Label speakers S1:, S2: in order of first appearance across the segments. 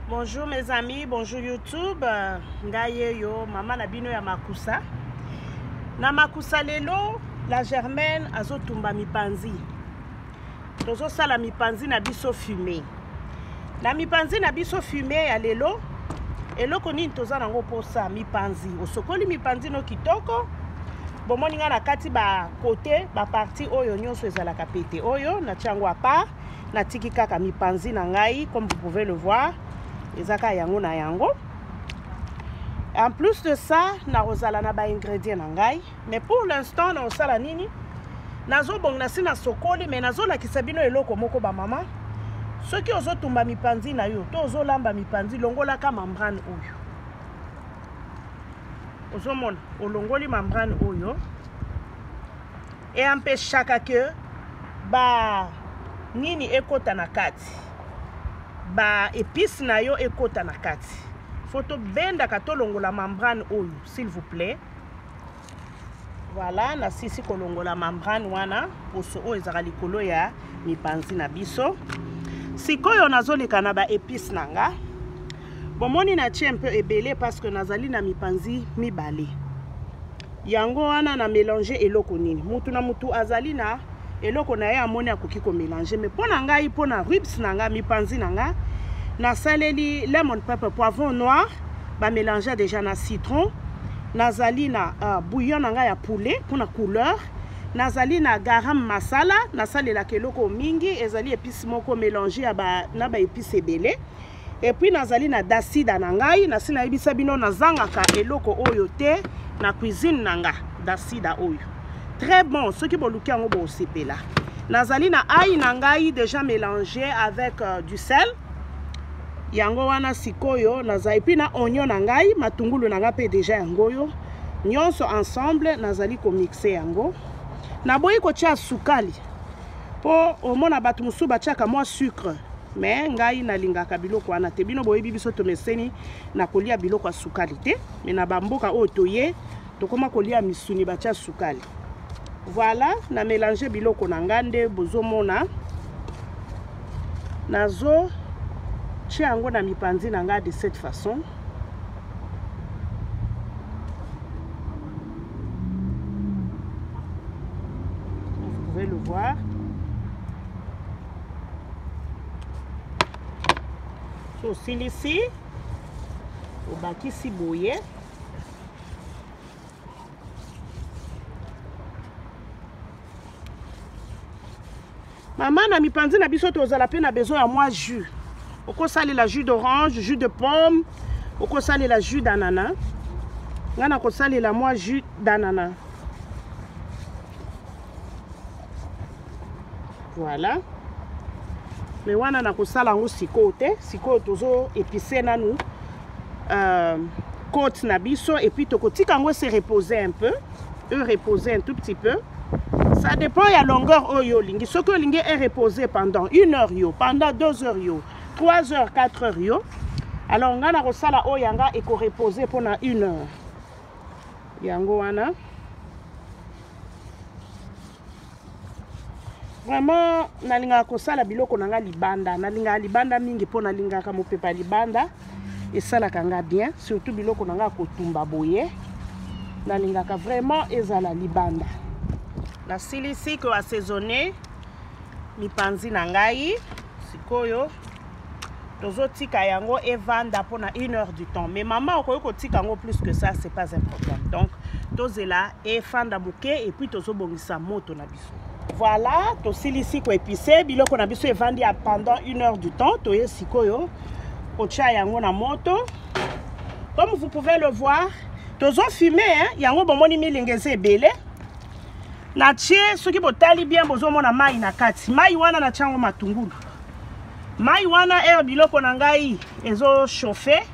S1: bonjour mes amis bonjour youtube ngai yeyo mama na bino ya makusa na makusa lelo la germaine azotumba mipanzi tozosala mipanzi na biso fume na mipanzi na biso fume ya lelo eloko nini toza nango mposa mipanzi osokoli mipanzi no kitoko bomoni ngai na kati bakote baparti oyo nyonso ezalaka pete oyo natya yango apart natiki kaka mipanzi na ngai comme vous pouvez le voir eza kaka yango na yango en plus de ça nakozala na baingredient na ngai mais pour l'instant naosala nini nazobonga na si nasokoli mais nazolakisa bino eloko moko bamama soki ozotumba mipanzi na yo to ozolamba mipanzi longolaka membrane oyo ozomona olongoli membrane oyo eampeshaka ke ba nini ekota na kati ba epice na yo ekota na kati fo tobendaka tolongola membrane oyo s'il vous plaît Voilà, na sisi kolongola membrane wana poso oyo ezaka likolo ya mipanzi na biso. Sikoyo nazoleka na ba épices na nga. Bomoni na tie un peu ebele parce que nazali na mipanzi mibale. Yango wana na mélanger eloko nini? Mutu na mutu azali na eloko na ye amoni akoki ko mélanger mais pona ngai pona ribs na nga mipanzi na nga nasaleli lemon pepper poivron noir ba mélange déjà na citron nazali na uh, bouillon na ngai ya poulet mpona couleur nazali na garam masala nasalelaka eloko mingi ezali epice moko mélange ya ba, na baepice ebele epuis nazali na dasida na ngai nasi nayebisa bino nazangaka eloko oyo te na cuisine na nga dasida oyo très bon soki boluki yango bosepela nazali na ai na ngai déjà mélange avec euh, du sel yango wana sikoyo naza epuis na onio na ngai matungulu na ngai mpe deja yango oyo nyonso ensemble nazali komixe yango naboyi kotya sukali mpo omona bato mosusu batyaka mwa sucre me ngai nalingaka biloko wana te bino boyebi biso tomeseni na kolia biloko ya sukali te me na bamboka oyo toye tokoma kolia misuni batya sukali voilà na mélange biloko na ngai nde bozomona nazo tya yango na mipanzi na ngai de cette façon vous pouvez le voir sosilisi obakisi boye mama na mipanzi na biso tozala mpe na besoin ya mwa jus okosalela jus d'orange jus de pomme okosalela jus d'anana ngai nakosalela mwa jus d'anana voilà mais wana nakosala yango sikoyo te sikoyo tozo epise nanu euh, côte na biso et puis tokotika yango se reposer un peu e reposer un tout petit peu ça dépend ya longueur oyo olingi soki olingi e reposer pendant une heure yo pendant deux heures yo trois heures quatre heures yo alors ngai nakosala oyo yanga ekoreposer mpona une heure yango wana vraiment nalingaka kosala biloko na ngai libanda nalingaka libanda mingi mpo nalingaka mopepa libanda esalaka ngai bien surtout biloko na ngai kotumba boye nalingaka vraiment ezala libanda nasilisi koassaisonne mipanzi na ngai sikoyo tozotika yango evanda mpona une heure du temps mais mama okoki kotika yango plus que ça c'est pas un problème donc tozela efanda moke epuis tozobongisa moto na biso voilà tosilisi koepise biloko na biso evandi ya pendant une heure du temps toye sikoyo kotya yango na moto comme vous pouvez le voir tozofume yango bomoni milinga eza ebele natie soki botali bien bozomona mai na kati mai wana natya yango matungulu mai wana ere biloko na ngai ezo chauffe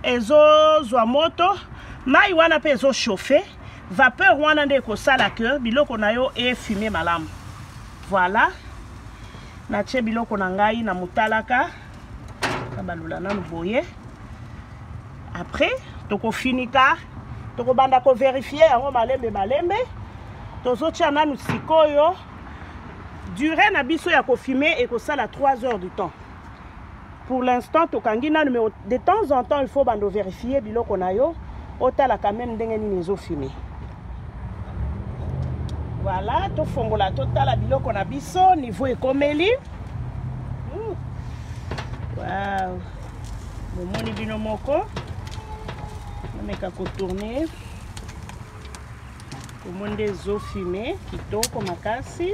S1: ezozwa moto mai wana mpe ezo chauffe vapeur wana nde ekosala ke biloko na yo efume malamu voilà natie biloko na ngai na motalaka nabalula nanu boye après tokofinika tokobanda koverifie yango malembe malembe tozotia nanu sikoyo durée na biso ya kofume ekosala 3 heures du temps pour l'instant tokangi nanu mais de temps en temps il faut bando vérifier biloko na yo otala quand même ndenge nini ezofume voilà tofongola totala biloko na biso niveau ekomeli hmm. wow. bomoni bino moko nameka kotourne Comment des eaux fumées, kitoko makasi.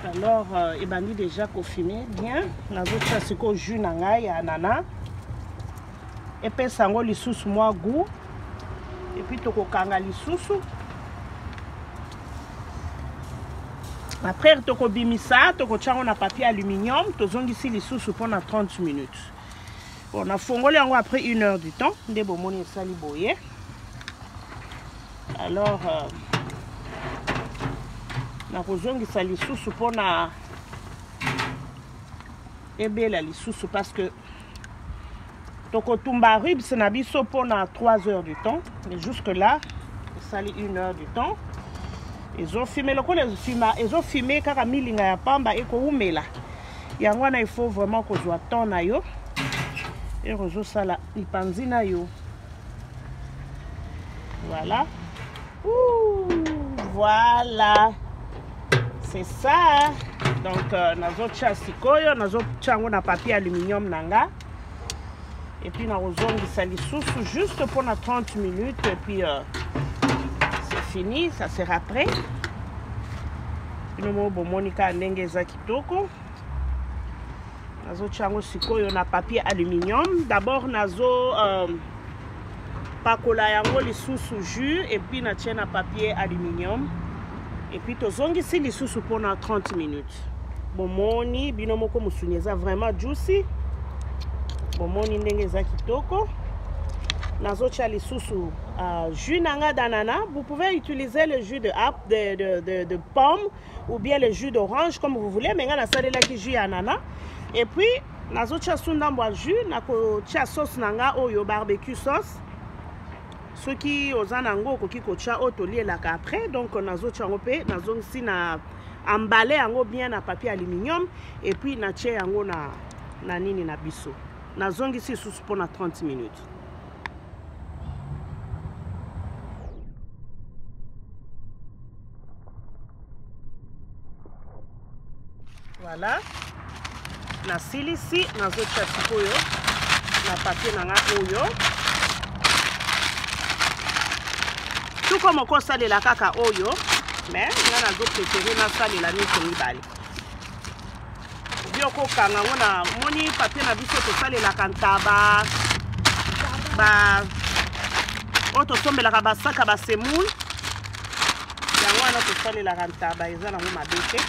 S1: Alors, euh, ebandi déjà kofume bien. Nazotia sikoyo jus na ngai ya anana. Epesa yango lisusu mwa goût. Et puis tokokanga lisusu. Après tokobimisa, tokotia yango na papier aluminium, tozongisi lisusu mpo na 30 minutes. bon nafongoli yango après une heure du temps nde bomoni esali boye alors euh, nakozongisa lisusu mpona ebela lisusu parce que tokotumba ribs na biso mpona 3 heures du temps mais jusque là esali une heure du temps ezofime lokola ezofima ezofime kaka milinga ya pamba ekowumela yango wana il faut vraiment kozwa temps na yo ere ozosala lipanzi na yo voilà Ouh, voilà c'est ça donc euh, nazotya sikoyo nazotya yango na papier aluminium na nga epuis nakozongisa lisusu juste mpo na 30 minutes epuis euh, c'est fini ça sera prêt bino moko bomoni kaka ndenge ezaki toko nazotia yango sikoyo na papier aluminium d'abord nazo euh, pakola yango lisusu jus epuis natie na papier aluminium epuis tozongisi lisusu mpona 30 minutes bomoni bino moko mosuni eza vraiment juicy bomoni ndenge eza kitoko nazotia lisusu uh, jus na ngai d'anana vous pouvez utiliser le jus de, de, de, de, de pomme ou bien le jus d'orange comme vous voulez mais ngai nasalelaki jus ya anana et puis nazotia su ndambo ya jus nakotia sauce na ngai oyo barbecue sauce soki oza na yango okoki kotia oyo tolielaka après donc nazotia yango mpe nazongisi na embale yango bien na papier aluminium et puis natie yango na, na nini na biso nazongisi lisusu mpo na 30 minutes Voilà. nasilisi nazotya sikoyo na papie na ngai oyo tuko moko osalela kaka oyo me ngai nazoprefere nasalela nyonso mibale Yo kokanga yango na moni papier na biso tosalelaka ntaba ba oyo tosombelaka basaka basemoule yango wana tosalelaka ntaba eza nango mabe te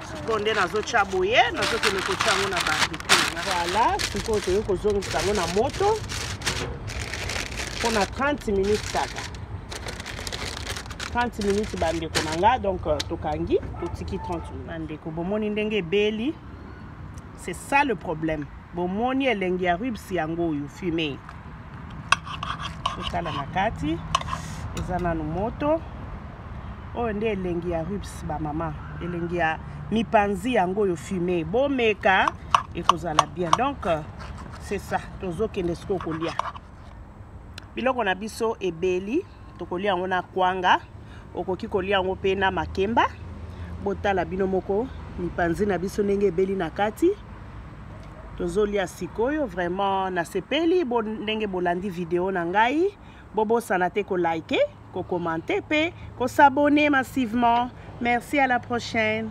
S1: sikoyo nde nazotya boye nazokende kotya yango na barbecue voilà sikoyo toyei kozongisa yango na moto mpo na 30 minutes kaka 30 minutes bandeko na nga donc euh, tokangi totiki 30 minutes bandeko bomoni ndenge ebeli c'est ça le problème bomoni elengi ya ribs yango oyo fume totala na kati eza nanu moto oyo nde elengi ya ribs bamama elengi ya mipanzi yango oyo fume bomeka ekozala bien donc c'est ça tozokende sikoyo kolia biloko na biso ebeli tokolia yango na kwanga okoki kolia yango mpe na makemba botala bino moko mipanzi na biso ndenge ebeli na kati tozolia sikoyo vraiment nasepeli bo, ndenge bolandi video na ngai bobosana te kolike kokomante mpe kosabone massivement merci à la prochaine